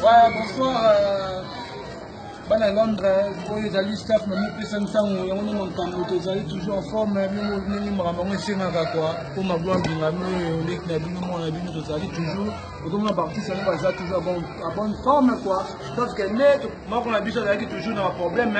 Voilà, bonsoir euh, bana Londres, oyo ezali staff na mipesa ntango yango nde makambo tozali toujours en forme ndenge makambo yango esengaka kua mpo magloire mbingami oyo leki na bino mwana na bino tozali toujours okomona baartiste yango baza toujours à bonne forme kua parce que nde moko na biso azalaki toujours na baproblème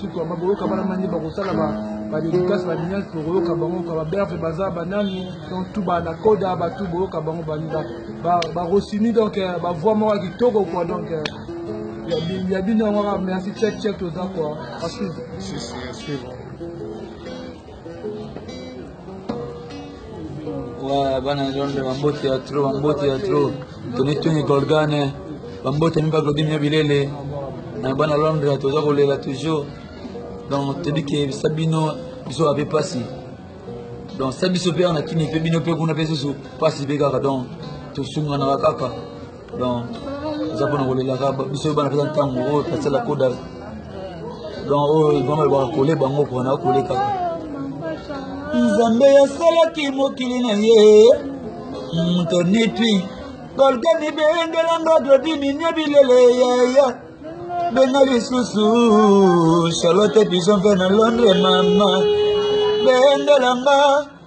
sikoyo bakoyoka bana mani bakosala badedikasi baniasi bokoyoka bango ka baberve baza banani donc tu banakoda batu boyoka bango bani barosini donc euh, bavoi moko ya kitoko kua donc euh, ya bino yango kaka merci check check toza kua wa bana zonde bambote ya tro bambote ya tro toni tuni golgane bambote mi baglodi mia bilele na bana londre toza kolela toujours donc toyebi ke bisa bino biso bape mpasi donc sa biso mpe awa na kini mpe bino mpe kuna mpe susu mpasi mpe kaka donc tosunganaka kaka donc eza mpona kolelaka biso oyo bana mpenza ntango oyo tasala koda donc oyo mama elobaka kole bango mpona kole kaka nzambe asalaki mokili na ye moto nitwi kolgani bengelanga dodiminie bilele yaya benga lisusu charlotte bison mpe na londre mama bengelanga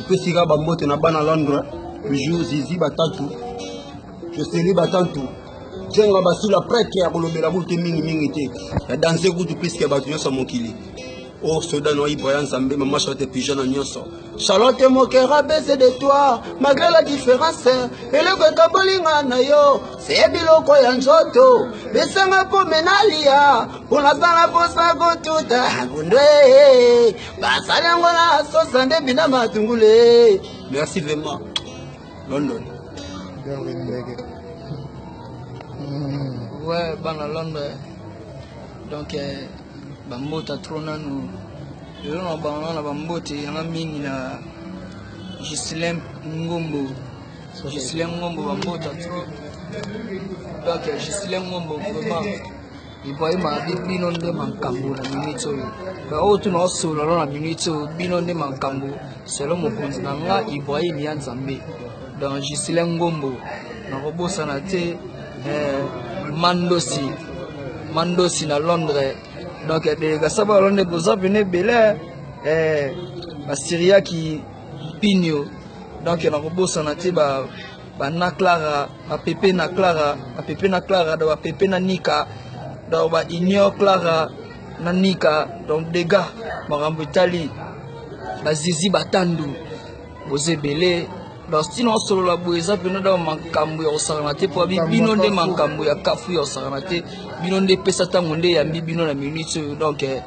epesi kaka bambote na bana londre toujours zizi batatu joseli batantu jenga basila prete ya kolobela kutu te mingimingi te ya danse kutu piske bato nyonso ya mokili o oh, soda no ibra ya nzambe mama charlotte pigeon na nyonso charlotte mokera bese de toi malgré la différence eloko ekabolinga na yo se biloko ya nzoto besanga mpo menalia mpo nazala mposa kotuta bondwe basali yango na sosa nde bina matungule merci vraiment london we bana london donc eh, bambota tro nanu lelo na bango na bambote yanga mingi na gislin ngombo gislin ngombo bambota tro donc eh, gislin ngombo vraiment Ibrahima abi bino nde makambo na minute oyo me oyo tuna osololo na minute oyo bino nde makambo selo mokonzi na nga Ibrahima ya nzambe don Gislain Ngombo nakobosana te eh, Mandosi Mandosi na Londres donc delegation eh, ba Londres boza pene ebele eh, basiriaki mpinio donc nakobosana te ba bana clara bapepe na clara bapepe na clara donc bapepe na nika donc ba union clara na nika donc dega makambo etali bazizi batandu boza ebele donc stina osolola boye eza mpena da makambo ya kosakana te mpo abi bino nde makambo ya kafu ya kosakana te bino nde epesa ntango nde eyambi bino na minute oyo donc eh,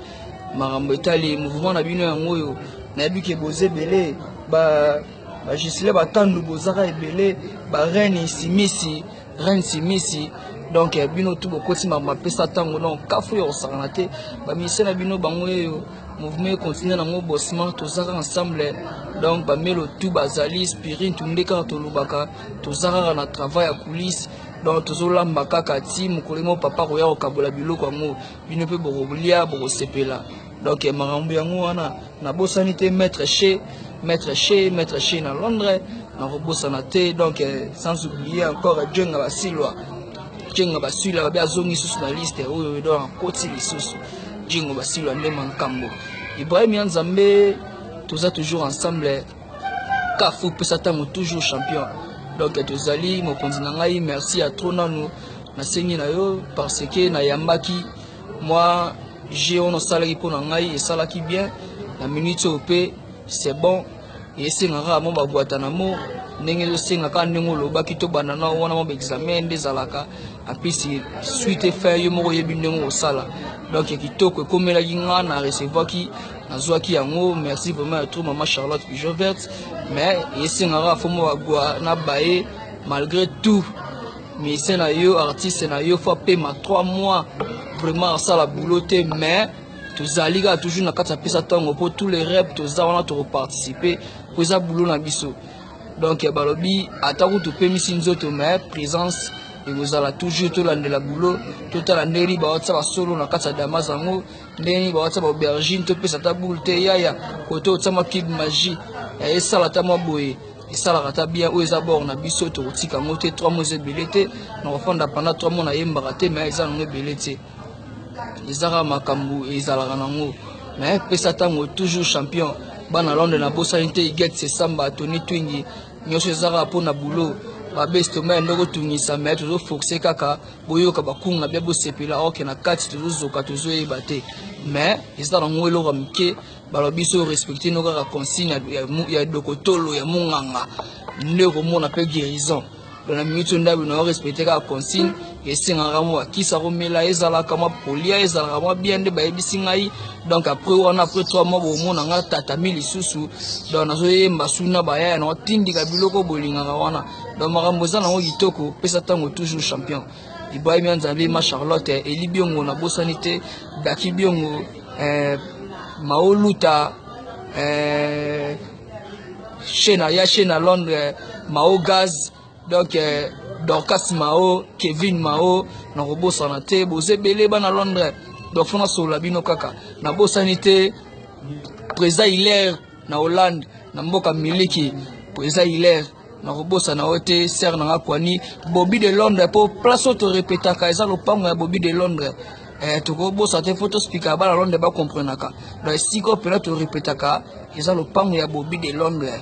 makambo etali mouvement na bino yango oyo nayebi ke boza ebele ba ba gisle batandu bozaka ebele ba reine simisi reine simisi donc eh, bino tu bokoti makambo apesa ntango donc kafu ya kosakana te baministre na bino bango eyo mouvement ekontinue nango bosman tozaka ensemble donc bamelo tu bazali spirit tunde kaka tolobaka toza kaka na travail ya coulisse donc tozolamba kaka ti mokolo moko papa koya kokabola biloko yango bino mpe bokolia bokosepela donc makambo yango wana nabosani te maître chez maître chez maître chez na londres nakobosana te donc euh, sans oublier encore jenga basilwa jenga basilwa babe azongi lisusu na liste oyo edo akoti lisusu jengo basilwa nde mankambo ibrahim ya nzambe toza toujours ensemble kafu pesa ntango toujours champion donc tozali mokonzi na ngai merci ya trop nanu nasengi na yo parce que nayambaki Mwa jeu wana osalaki mpo na ngai esalaki bien na minute oyo mpe c'est bon esenga kaka mwa babwata na mo ndenge ezosenga kaka ndenge olobaki tobanda na wana mwa baexamen nde ezalaka apesi suite efin yo moko oyebi ndenge osala donc ya kitoko ekomelaki nga na recevaki nazwaki yango merci vraiment ya trop mama charlotte pigeon verte mais esengaka fo mwa bagwa na baye malgré tout Musicien na yo artiste na yo faut apema 3 mois vraiment asala boulot te mais tozali kaka toujours na kati ya pesa ntongo mpo tous les rep toza wana tokoparticipe mpo eza bulo na biso donc eh, balobi ata kutu opemisi nzoto mais présence ekozala toujours tolandela bulo totala ndenge nini bawatisa basolo na kati ya damas yango ndenge nini bawatisa baaubergine topesa ata boule te yaya koto otiama cube magie eh, esala ata mwa boye esalaka ata bien oyo eza bord na biso tokotika yango te 3 mois eza ebele te nakofanda panda 3 mois nayembaka te mai eza nango ebele te eza kaka makambo ezalaka nango mai pesa ntango toujours champion bana londre nabosani te iget sesamba tony twingi nyonso eza kaka mpo na boulot babesi toma ya ndoko tungisa mai tozoforce kaka boyoka bakunga bia bosepela oke na kati tozozoka tozoyeba te mai eza nango eloko ya moke balobi so respecte no kaka consigne ya dokotolo ya monganga nde okomona mpe guérison donc na minute oyo ndabi nao respecte kaka consigne esengaka mwa kisa komela ezalaka mwa polia ezalaka mwa bia nde bayebisi ngai donc après wana après trois mois bomona ngai tatami lisusu donc nazoyemba suna bayaya nao tindika biloko bolingaka wana donc makambo eza nango kitoko pesa ntango toujours champion Ibrahim ya Nzambe, ma Charlotte, Eli Biongo, na bosani te, Daki Biongo, eh, Mao Luta, eh, Shena, ya Shena Londres, Mao Gaz, donc eh, Dorcas Mao, Kevin Mao, na kobosana te, boze bele bana Londres, donc fona solola bino kaka, na bosani te, Président Hilaire na Hollande na mboka miliki po eza hilaire nakobosana yo te sere na nga kwani bobi de londres mpo place oyo torepetaka eza lopango ya bobi de londres eh, tokobosa te mpo tospikaka bana londres bakomprenaka na esika oyo mpena torepetaka eza lopango ya bobi de londres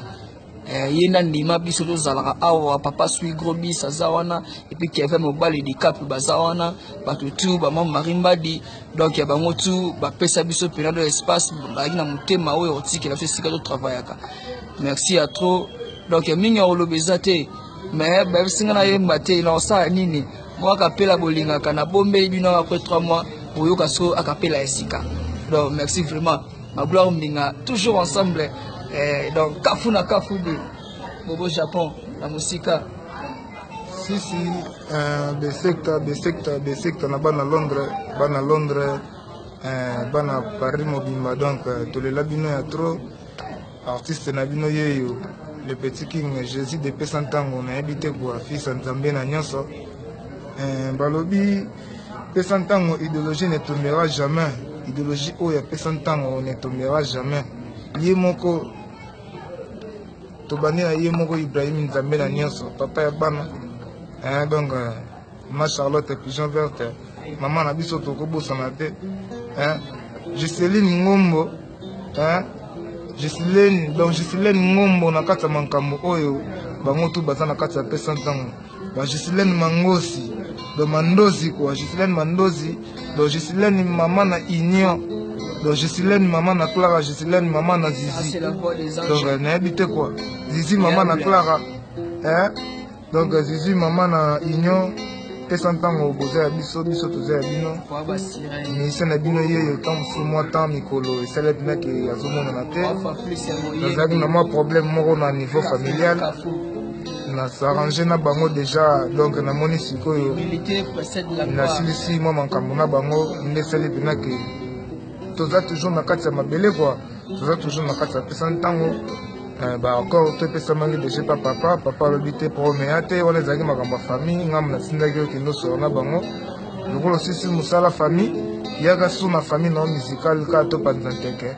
eh, ye na ndima biso tozalaka awa papa sui grobis aza wana epuis keve mobali dikape baza wana bato tu bamama marie mbadi donc ya bango tu bapesa biso mpena do espace bazalaki na motema oyo otikela biso esika totravayaka merci ya trop donc ya mingi ya koloba eza te mais bayebisi ngai nayemba te nakosala nini moko akapela bolingaka nabombeli bino après 3 mois oyoka so akapela ya sika donc merci vraiment ma gloire mbinga toujours ensemble eh, donc kafu na kafu de bobo japon na mosika sisi eh, besekta besekta besekta na bana londres bana londres eh, bana paris mobimba donc eh, tolela bino ya trop artiste na bino yeyo le petit king jésus depesa ntango nayebi te koafisa nzambe na nyonso balobi pesa ntango idéologie ne tombera jamais idéologie oyo apesa ntango ne tombera jamais ye moko tobandi na ye moko ibrahim nzambe na nyonso papa ya bana eh, donc euh, ma charlotte pigeon verte mama na biso tokobosana te eh, giseline ngombo eh, gisilene donc gisilene ngombo na kati ya makambo oyo bango tu baza na kati ya pesa ntango Ba Gisilène Mangosi, do Mandozi quoi, Gisilène Mandozi, do Gisilène maman na Union, do Gisilène maman na Clara, Gisilène maman na Zizi. Ah, Donc euh, nayebi te quoi. Zizi maman na Clara. Hein? Donc euh, Zizi maman na Union. pesa ntango boza ya biso biso toza ya bino mission na bino yeyo ntango mosusu mwa temps mikolo esali ete nake azomonana te nazalaki na mwa problème moko na niveau familial na s'arranger na bango deja donc namoni sikoyo nasilisi mwa makambo na bango nde esali mpena ke toza toujours na kati ya mabele kua toza toujours na kati ya pesa ntango eh, baaccord to epesamaki deja pa papa papa alobi te promea te wana ezalaki makambo ya famille ngambo natindaki yo kende osolo na bango lokola osisi mosala famille yaka su na famille na yo musicale kaka topanza nteke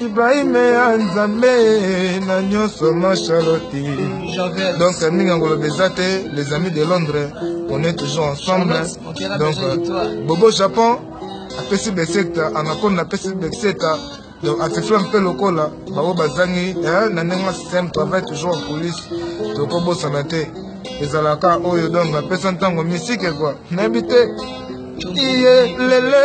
Ibrahim ya Nzambe na nyoso ma Charlotte. Donc mingi ngolobe eza te les amis de Londres on est toujours ensemble. Donc Bobo Japon apesi beseta anakonda apesi beseta donc atifla mpe lokola bango bazangi eh, na ndenge système travail toujours en coulisse tokobosana te ezalaka oyo donc apesa ntango misike kua nayebi te iye lele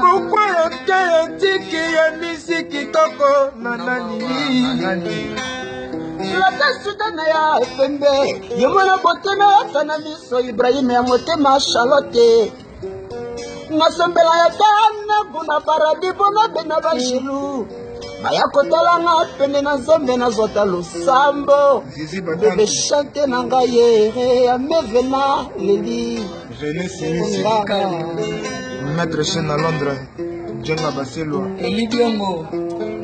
Pourquoi le cœur est tiki et musique kitoko nanani lata suta na ya pembe ye mwana botema yaka na miso ibrahima ya motema charlotte nasambela ya tanaku na paradi mpo na bena banjelu baya kotala nga pene na nzambe nazwata losambo bebe chante na ngai ye amevena leli René Simi Sirikali Maître Chen na Londres Djenga Baselwa Eli Biongo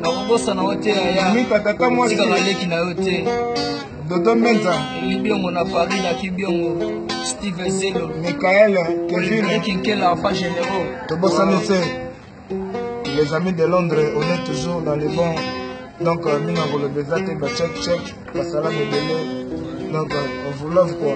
nakobosana yo te yaya Mika tata mwasi Tika baleki na yo te Dodo Menza Eli Biongo na Paris na Kibiongo Steve Zelo Michael Kevin Ekinkela Papa Généraux Tobosani se Les amis de Londres on est toujours dans les bons donc euh, mingi akoloba eza te bacheck check basala mebele donc euh, on vous love quoi